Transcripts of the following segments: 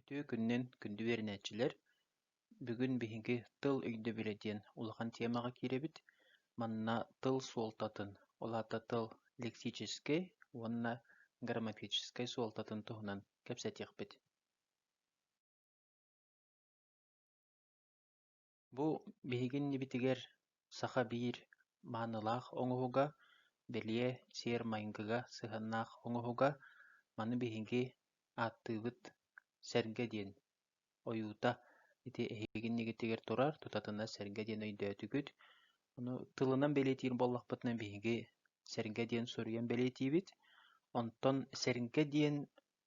Үтүө күнүнэн күндү үөрэнээччилэр! Бүгүн биһиги тыл өйдөбүлэ диэн улахан тиэмэҕэ киирэбит. Манна тыл суолтатын, ол аата тыл лексическэй уонна грамматическай суолтатын туһунан кэпсэтиэхпит. Бу биһиги иннибитигэр саха биир маанылаах оҥоһуга, бэлиэ сиэр-майгыга сыһыаннаах оҥоһуга, маны биһиги ааттыыбыт сэргэ диэн ойуута ити эһиги иннигитигэр турар, тутатына сэргэ диэн өйдөөтүгүт. Ону тылынан бэлиэтиир буоллахпытына биһиги сэргэ диэн суруйан бэлиэтиибит. Онтон сэргэ диэн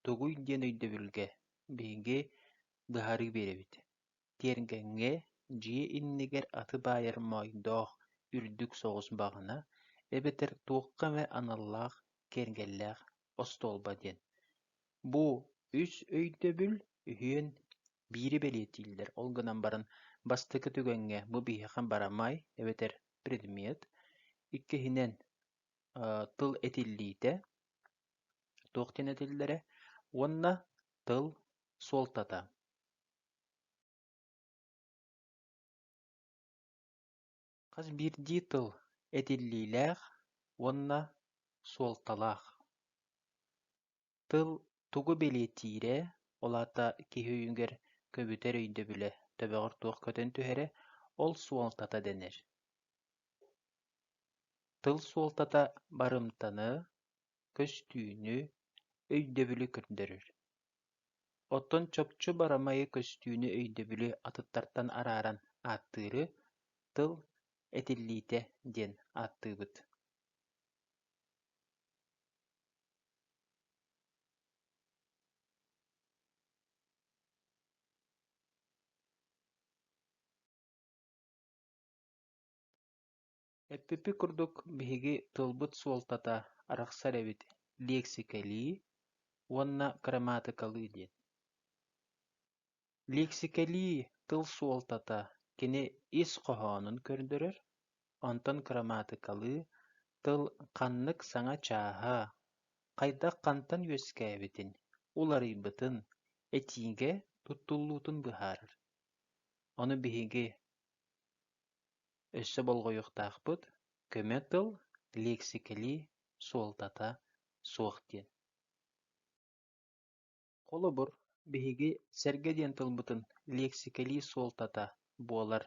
тугуй диэн өйдөбүлгэ биһиги быһаарыы биэрэбит. Тиэргэҥҥэ дьиэ иннигэр аты баайар моойдоох үрдүк соҕус баҕана эбэтэр туохха эмэ аналлаах киэргэллээх остуолба диэн. Бу үс өйдөбүл үһүөн биири бэлиэтииллэр. Ол гынан баран бастакы түгэҥҥэ бу биһиэхэ барамай эбэтэр предмет, иккиһинэн тыл этиллиитэ, туох диэн этиллэрэ уонна тыл суолтата. Хас биирдии тыл этиллиилээх уонна суолталаах. Тыл тугу бэлиэтиирэ, ол аата киһи өйүгэр көбүтэр өйдөбүлэ төбөҕөр туох көтөн түһэрэ, ол суолтата дэнэр. Тыл суолтата барымтаны, көстүүнү, өйдөбүлү көрдөрөр. Оттон чопчу барамайы көстүүнү өйдөбүлү атыттартан арааран ааттыыры тыл этиллиитэ диэн ааттыыбыт. Эппиппит курдук, биһиги тылбыт суолтата арахсар эбит лиэксикэлии уонна грамматыкалыы диэн. Лиэксикэлии тыл суолтата кини ис хоһоонун көрдөрөр, онтон грамматыкалыы тыл ханнык саҥа чааһа, хайдах хантан үөскээбитин, уларыйбытын, этиигэ туттуллуутун быһаарар. Ону биһиги Өссө болҕойуохтаахпыт, көмө тыл, лиэксикэлии суолтата суох диэн Холобур, биһиги сэргэ диэн тылбытын лиэксикэлии суолтата буолар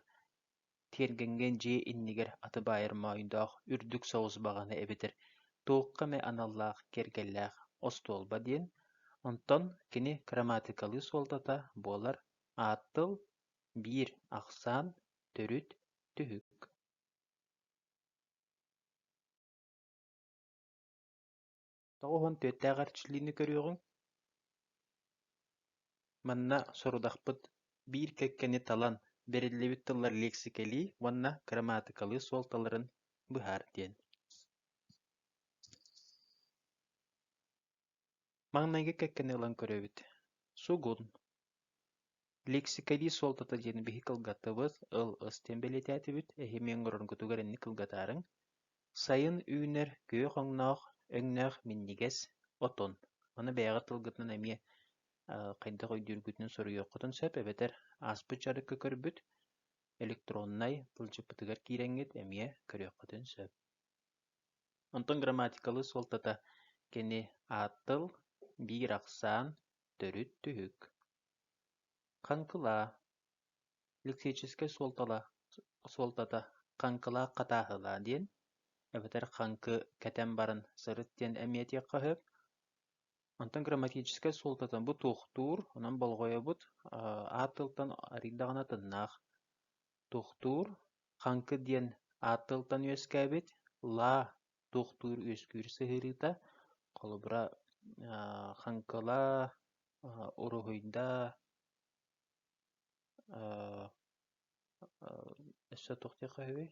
тиэргэнгэ дьиэ иннигэр аты баайар моойдоох үрдүк соҕус баҕаны эбэтэр туохха эмэ аналлаах киэргэллээх остуолба диэн, онтон кини грамматикалыы суолтата буолар аат тыл биир ахсаан төрүт түһүк тоҕус уон түөртээҕэр чилиини көрүөҕүҥ манна сорудахпыт биир кэккэни талан бэриллибит тыллар лиэксикэлии уонна грамматыкалыы суолталарын быһаар диэн Маҥнайгы кэккэни ылан көрөбүт, сугун. Лексикалии суолтата диэн биһи кылгаттыбыт, ыл ыс диэн бэлиэтээтибит, эһимиэн олороргутугар инник кылгатаарыҥ. Сайын үүнэр күөх өҥнөөх, өҥнөөх минньигэс отон. Аны бэйэҕит тылгытынан эмиэ хайдах өйдүүргүтүн суруйуоххутун сөп эбэтэр ааспыт дьарыкка көрбүт электроннай тылдьыппытыгар киирэҥҥит эмиэ көрүөххүтүн сөп Онтон грамматикалыы суолтата кини ааттыл, биир ахсаан, төрүт түһүк, хаҥкылаа, лексическэй суолтата хаҥкылаах хатааһылаа диэн, эбэтэр хаҥкы кэтэн баран сырыт диэн эмиэтиэххэ сөп. Онтон грамматическай суолтата бу туохтуур, онон болҕойобут, аат тылтан арыйдаҕына тыннаах. Тохтуур Хаҥкы диэн аат тылтан үөскээбит лаа тохтуур үөскүүр сыһыарыыта холобура хаҥкыла, уруһуйда, өссө туох диэххэ үһүүй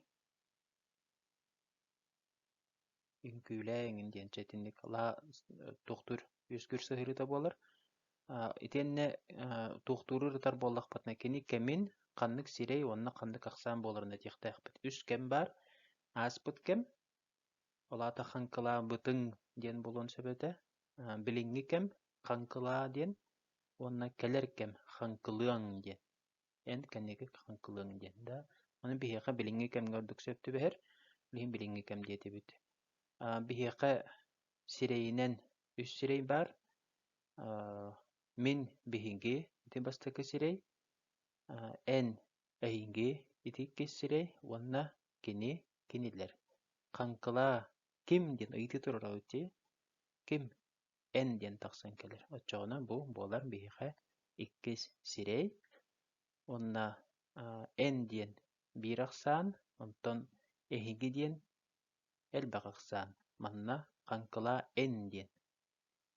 Үҥкүүлээ эҥин диэн чэ итинник лаа туохтуур үөскүүр сыһыарыыта буолар. Итиэннэ туохтууру ырытар буоллахпытына кини кэмин ханнык сирэй уонна ханнык ахсаан буоларын этиэхтээхпит. Үс кэм баар. Ааспыт кэм, ол аата хаҥкылаабытыҥ диэн буолуон сөп этэ. Билиҥҥи кэм хаҥкылаа диэн уонна кэлэр кэм хаҥкылыаҥ диэн. эн кэнники хаҥкылыаҥ диэн да аны биһиэхэ билиҥҥи кэмҥэ ордук сөп түбэһэр илиһин билиҥҥи кэм диэтибит биһиэхэ сирэйинэн үс сирэй баар мин биһиги ити бастакы сирэй эн эйиги ити иккис сирэй уонна кини кинилэр хаҥкылаа ким диэн ыйытыы турара ити ким эн диэн тахсан кэлэр. Оччоҕуна бу буолар биһиэхэ иккис сирэй уонна эн диэн биир ахсаан, онтон эһиги диэн элбэх ахсаан. Манна хаҥкылаа эн диэн.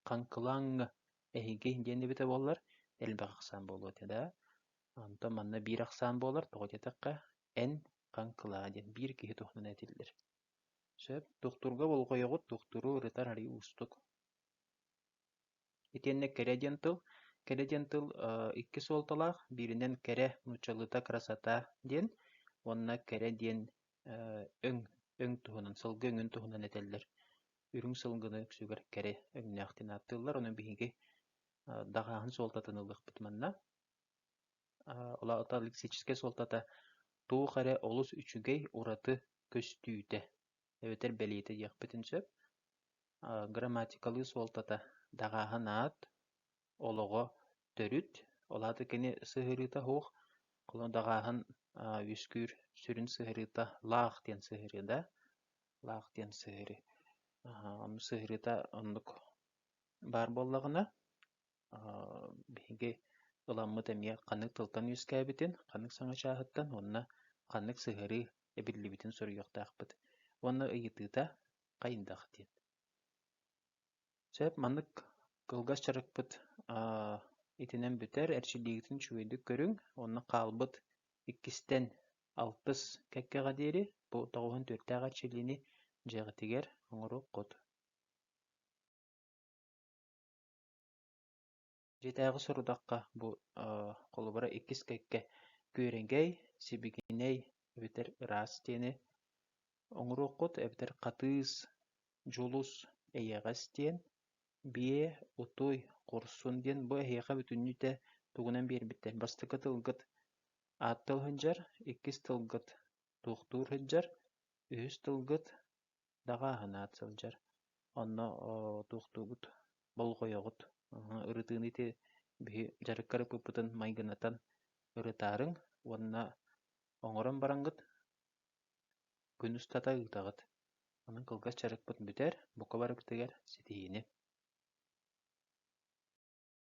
Хаҥкылааҥҥа эһиги диэн эбитэ буоллар элбэх ахсаан буолуо этэ да. Онтон манна биир ахсаан буолар, тоҕо диэтэххэ эн, хаҥкылаа диэн биир киһи туһунан этиллэр. Сөп, дохтурга болҕойоҕут, дохтуру ырытар арыый уустук. Итиэннэ кэрэ диэн тыл, кэрэ диэн тыл икки суолталаах, бииринэн кэрэ, нууччалыыта красота диэн уонна кэрэ диэн өҥ, өҥ туһунан, сылгы өҥүн туһунан этэллэр. Үрүҥ сылгыны үксүгэр кэрэ өҥнөөх диэн ааттыыллар, ону биһиги даҕааһын суолтатын ылыахпыт манна. лексическэй суолтата туох эрэ олус үчүгэй, ураты көстүүтэ эбэтэр бэлиэтэ диэхпитин сөп. Грамматикалыы суолтата даҕааһын аат, олоҕо төрүт, ол аата кини сыһыарыыта суох, даҕааһын үөскүүр сүрүн сыһыарыыта лаах диэн сыһыарыы да, лаах диэн сыһыарыы. Сыһыарыыта оннук баар буоллаҕына биһиги ыламмыт эмиэ ханнык тылтан үөскээбитин, ханнык саҥа чааһыттан уонна ханнык сыһыарыы эбиллибитин суруйуохтаахпыт уонна ыйытыыта хайдах диэн. Сөп маннык кылгас дьарыкпыт итинэн бүтэр. Эрчиллиигитин үчүгэйдик көрүҥ уонна хаалбыт иккистэн алтыс кэккэҕэ диэри бу тоҕуһун төрүттээх эрчиллиини дьиэҕитигэр оҥоруоххут. Дьиэтээҕи сорудахха бу холобура иккис кэккэ күөрэгэй, сибигинэй эбэтэр ыраас диэни оҥоруоххут эбэтэр хатыыс, дьулус, эйэҕэс диэн, биэ, утуй, хорсун диэн бу эһиэхэ бүтүннүүтэ тугунан биэрбиттэр бастакы тылгыт ааттал сылдьар, иккис тылгыт туохтуур сылдьар, үһүс тылгыт Даҕааһынаат сылдьар, онно туохтуубут, болҕойоҕут, ырытыыны ити биһи дьарыкка арыппыппытын майгынатан ырытаарыҥ уонна оҥорон бараҥҥыт, күн устата ыытаҕыт. Онон кылгас дьарыкпыт бүтэр, бука барыбытыгар ситиһиини!